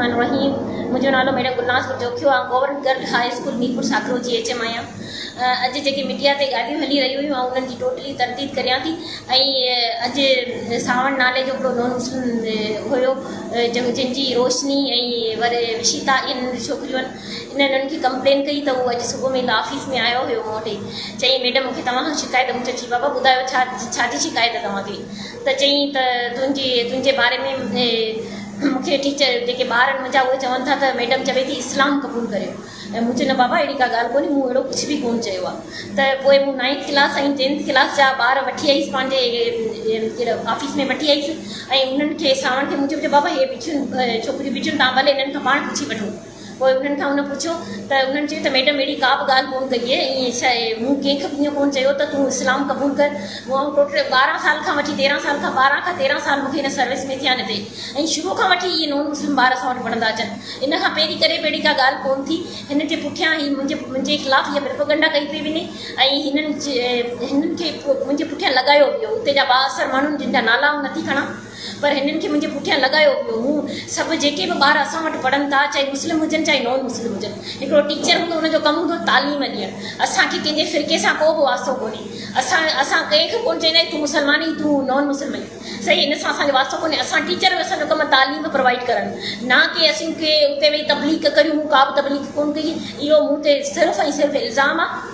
الرحمان الرحيم منهنجو نالو ميڊم گلناز گل جوکيو آ government girls high school Mirpur Sakro جي ايڇ ايم آهيان اڄ جيڪي ميڊيا تي ڳالهيون هلي رهيون هيون آئون انهن جي ٽوٽلي ترديد ڪريان ٿي ۽ اڄ ساوڻ نالي جو هڪڙو نون مسلم هيو جن جي روشني ۽ ور وشيتا ان ڇوڪريون انهن انهن کي ڪمپلين ڪئي ته هو اڄ صبح ۾ آفيس ۾ آيو هيو مون وٽ چيائين ميڊم مون کي توهان کان شڪايت مون چيو جي بابا ٻڌايو ڇا ڇا جي شڪايت توهان کي ته چيائين ته تنهنجي تنهنجي باري ۾ مون کي ٽيچر جيڪي ٻار آهن منهنجا اهي چون ٿا ته ميڊم چوي ٿي اسلام قبول ڪريو ۽ مون چيو نه بابا اهڙي ڪا ڳالهه ڪونهي مون اهڙو ڪجهه به ڪونه چيو آهي ته پوء مون نائنٿ ڪلاس ۽ ٽينٿ ڪلاس جا ٻار وٺي آئيس پنهنجي آفيس ۾ وٺي آئيس ۽ انهن کي ساڻن کي مون چيو بابا هي ٻچيون ڇوڪريون ٻچيون تان ڀلي انهن کان پاڻ پڇي وٺو پوء انهن کان هن پڇيو ته انهن چيو ته ميڊم اهڙي ڪا به ڳالهه ڪونه ڪئي اهي ائين ڇا اهي مون ڪنهن کي به ائين ڪونه چيو ته تون اسلام قبول ڪر مون آئون ٽوٽل ٻارهن سال کان وٺي تيرهن سال کان ٻارهن کان تيرهن سال مون کي هن سروس ۾ ٿيا آهن هتي ۽ شروع کان وٺي اهي نون مسلم ٻار اسان وٽ پڙهندا اچن ان کان پهرين ڪڏهن به اهڙي ڪا ڳالهه ڪونه ٿي هنن جي پٺيان هي منهنجي منهنجي خلاف هيء پرپگنڊا ڪئي پئي وڃي ۽ هنن هنن کي منهنجي پٺيان لڳايو ويو اتي جا بااثر ماڻهن جن جا نالا آئون نٿي کڻان پر هنن کي منهنجي پٺيان لڳايو ويو هو. سڀ جيڪي به ٻار اسان وٽ پڙهن ٿا، چاهي مسلم هجن چاهي نان مسلم هجن. هڪڙو ٽيچر هوندو ان جو ڪم هوندو تعليم ڏيڻ. اسان کي ڪنهن جي فرقي سان ڪو به واسطو ڪونهي. اسان اسان ڪنهن کي ڪونه چئندا آهيون تون مسلمان آهين تون نان مسلم آهين. صحيح ان سان اسان جو واسطو ڪونهي. اسان ٽيچر آهيون اسان جو ڪم تعليم پروائيڊ ڪرڻ نه ڪي اسين ڪي اتي ويهي تبليغ ڪريون مون ڪا به تبليغ ڪونه ڪئي اهو مون تي صرف ۽ صرف الزام آهي.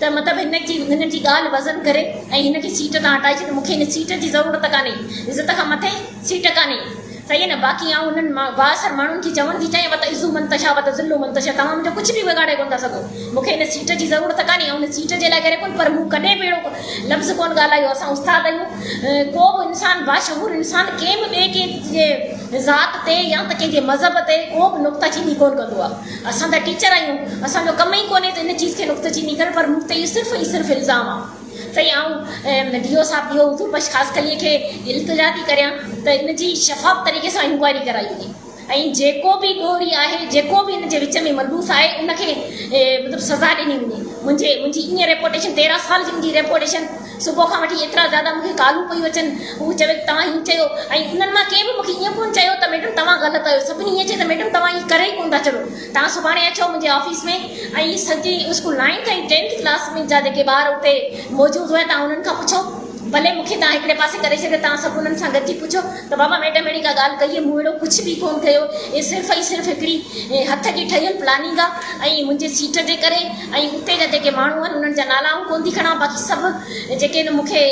ته مطلب هن جي هن جي ڳالهه وزن ڪري ۽ هن کي سيٽ تان هٽائي ڇڏ مون کي هن سيٽ جي ضرورت ڪانهي عزت کان مٿي سيٽ ڪانهي صحيح نه باقي آئون انهن بااثر ماڻهن کي چوڻ ٿي چاهيان وت عزو من تشا وت ذلو من تشا توهان منهنجو ڪجهه به بگاڙي ڪونه ٿا سگهو مون کي هن سيٽ جي ضرورت ڪانهي آئون هن سيٽ جي لاء گهري ڪونه پر مون ڪڏهن به اهڙو لفظ ڪونه ڳالهايو اسان استاد آهيون ڪو به انسان باشعور انسان ڪنهن به ٻئي ڪنهن جي ذات تي يا ته ڪنهن جي مذهب تي ڪو به نڪته چيني ڪونه ڪندو آهي اسان ته ٽيچر آهيون، اسان جو ڪم ئي ڪونهي ته ان چيز کي نڪته چيني ڪرڻ، پر مون تي اهو صرف ۽ صرف الزام آ. سائين آئون ڊي او صاحب ڊي او حضور بخش خاصخليء کي التجا ٿي ڪريان ته ان جي شفاف طريقي سان انڪوائري ڪرائي وڃي ۽ جيڪو به ڏوهري آهي، جيڪو به ان جي وچ ۾ ملوث آهي ان کي مطلب سزا ڏني وڃي. منهنجي منهنجي ايئن ريپوٽيشن تيرهن سال جي منهنجي ريپوٽيشن. صبح کان وٺي ايترا زياده مون کي ڪالون پيون اچن. هو چوي ته توهان ائين چيو ۽ انهن مان ڪنهن به مون کي ائين ڪونه چيو ته ميڊم توهان غلط آهيو. سڀني ائين چيو ته ميڊم توهان ائين ڪري ئي ڪونه ٿا چڙهو. توهان سڀاڻي اچو منهنجي آفيس ۾ ۽ سڄي اسڪول نائنٿ ۽ ٽينٿ ڪلاس ۾ جا جيڪي ٻار اتي موجود هئا توهان انهن کان پڇو. ڀلي مون کي توهان هڪڙي پاسي ڪري ڇڏيو توهان سڀ انهن سان گڏجي پڇو ته بابا ميڊم اهڙي ڪا ڳالهه ڪئي هئي. مون اهڙو ڪجهه به ڪونه ڪيو. هي صرف ۽ صرف هڪڙي هٿ جي ٺهيل پلاننگ آهي ۽ منهنجي سيٽ جي ڪري. ۽ اتي جا جيڪي ماڻهو آهن انهن جا نالا آئون ڪونه ٿي کڻان باقي سڀ جيڪي آهن مون کي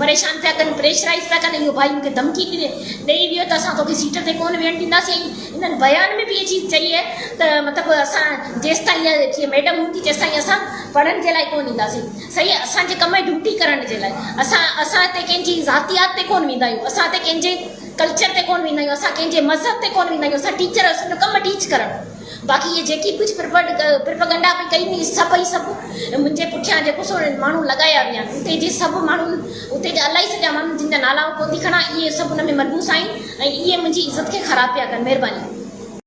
پريشان پيا ڪن پريشرائز پيا ڪن اهو ڀائي مون کي ڌمڪي ڏئي ويو ته اسان توکي سيٽ تي ڪونه ويهڻ ڏينداسين ۽ انهن بيان ۾ به اهي چيز چئي آهي ته مطلب اسان جيستائين اها جيڪي ميڊم هوندي تيستائين اسان پڙهڻ جي لاء ڪونه اينداسين صحيح آهي اسان جي ڪم آهي ڊيوٽي ڪرڻ جي لاء اسان اسان هتي ڪنهن جي ذاتيات تي ڪونه ويندا آهيون اسان هتي ڪنهن جي ڪلچر تي ڪونه ويندا آهيون اسان ڪنهن جي مذهب تي ڪونه ويندا آهيون اسان ٽيچر اسان جو ڪم آهي ٽيچ ڪرڻ باقي اهي جيڪي ڪجهه پرپگنڊا پئي ڪئي وئي سڀ ئي سڀ منهنجي پٺيان جيڪو سو ماڻهو لڳايا ويا آهن اتي جي سڀ ماڻهن اتي جا الائي سڄا ماڻهن جن جا نالا آئون ڪوتي کڻان اهي سڀ ان ۾ ملوث آهن ۽ اهي منهنجي عزت کي خراب پيا ڪن مهرباني